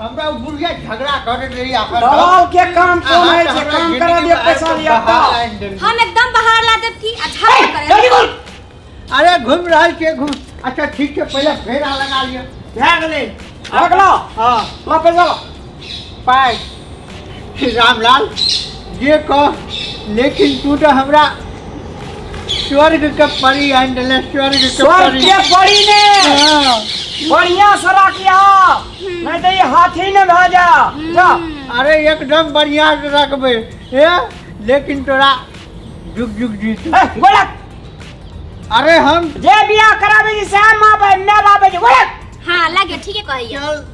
हमरा बुढ़िया झगड़ा करत रही आखर दलाल के काम कोन है जे काम करा दियो पैसा लिया तो हम एकदम बाहर ला देब की अच्छा करे जल्दी बोल अरे घूम रहल के घूम अच्छा ठीक है पहले फेरा लगा लिया भए गेलै अगला हां ला पैसा ला पाँच रामलाल जे कह लेकिन तू तो हमरा स्वर्ग के परी आनि देले स्वर्ग के स्वर्ग परी के पड़ी ने हाँ। बढ़िया से रखिया नहीं तो ये हाथी न भा जा जा अरे एकदम बढ़िया से रखबे ए लेकिन तोरा जुग जुग जीत ए, बोला अरे हम जे बियाह कराबे जी सैन माँ बाप मैं बाप जी बोला हाँ लगे ठीक है कहिए चल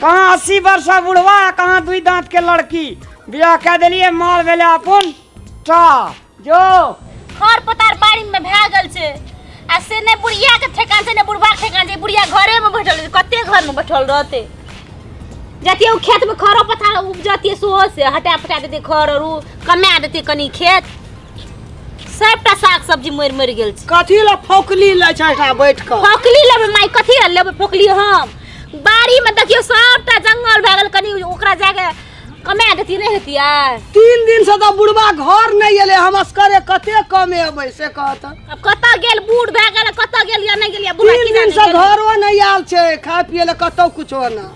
कहाँ अस्सी वर्ष का बुढ़वा आ कहाँ दुई दांत के लड़की बियाह कह दिलिए माल भेले अपन टा जो खर पतार बाड़ी में भए गेल छै आ से ने बुढ़िया के ठेकान छै ने बुढ़वा के ठेकान छै बुढ़िया घरे में बैठल रहतै कते घर में बैठल रहतै जतिए ओ खेत में खरो पथार उपजतिए सोहो से हटा पटा देतै खर और उ कमा देतै कनी खेत सबटा साग सब्जी मरि मरि गेल छै कथी ला फोकली लै छै एकरा बैठ कऽ फोकली लेबै माय कथी ला लेबै फोकली हम बाड़ी में देखियो सबटा जंगल भए गेल कनी ओकरा जाके कमा देती नहीं हेतियै तीन दिन से तो बुढ़वा घर नहीं एले हम असकरे कते कमे अबै से कहत अब कतऽ गेल बूढ़ भए गेल कतऽ गेल या नहीं गेल या बुढ़ा तीन की दिन से जाने गेल। घरो नहीं आयल छै खाय पिए ले कतौ कुछो ना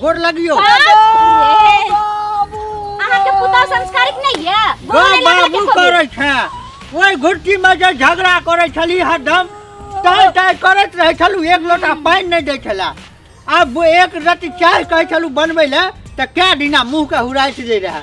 गोड़ लगियो अहाँ के पुतौ संस्कारिक नै ये गो बाबू करै छै ओइ घुट्टी में जे झगड़ा करै छली हरदम तय तय करैत रहै छलु एक लोटा पानि नै दै छला आब एक रति चाय कहै छलु बनबै ले तऽ कए दिना मुँह के हुराइत दै रहै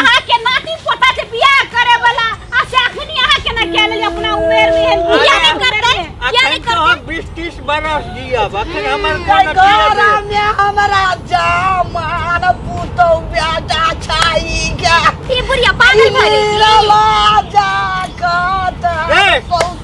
अहाँ के नाती पोता जे बियाह करे वाला आ से अखनी अहाँ के ना कह लेली अपना उमेर में एहन बियाह नहीं करते किया नहीं अखन तो हम बीस तीस बरस जियब अखन हमर कोन घरा में हमरा जमान पुतौ बेटा छाई गे ई बुढ़िया पागल भइल नीरला जा कत ए! पहुँच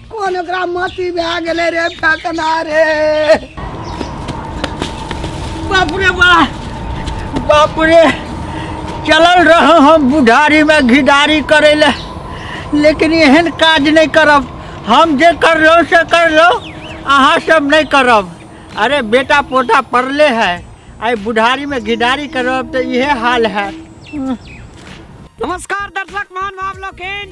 कोन ओकरा मती भए गेलै रे फेकना रे बाप रे बा बाप रे चलल रहूँ हम बुढ़ारीमे घिडारी करै लए लेकिन एहन काज नहि करब हम जे करलहुँ से करलहुँ अहाँ सब नहि करब अरे बेटा पोता पड़ले है आइ बुढ़ारीमे घिडारी करब तऽ इहे हाल है नमस्कार दर्शक महानुभाव लोकनि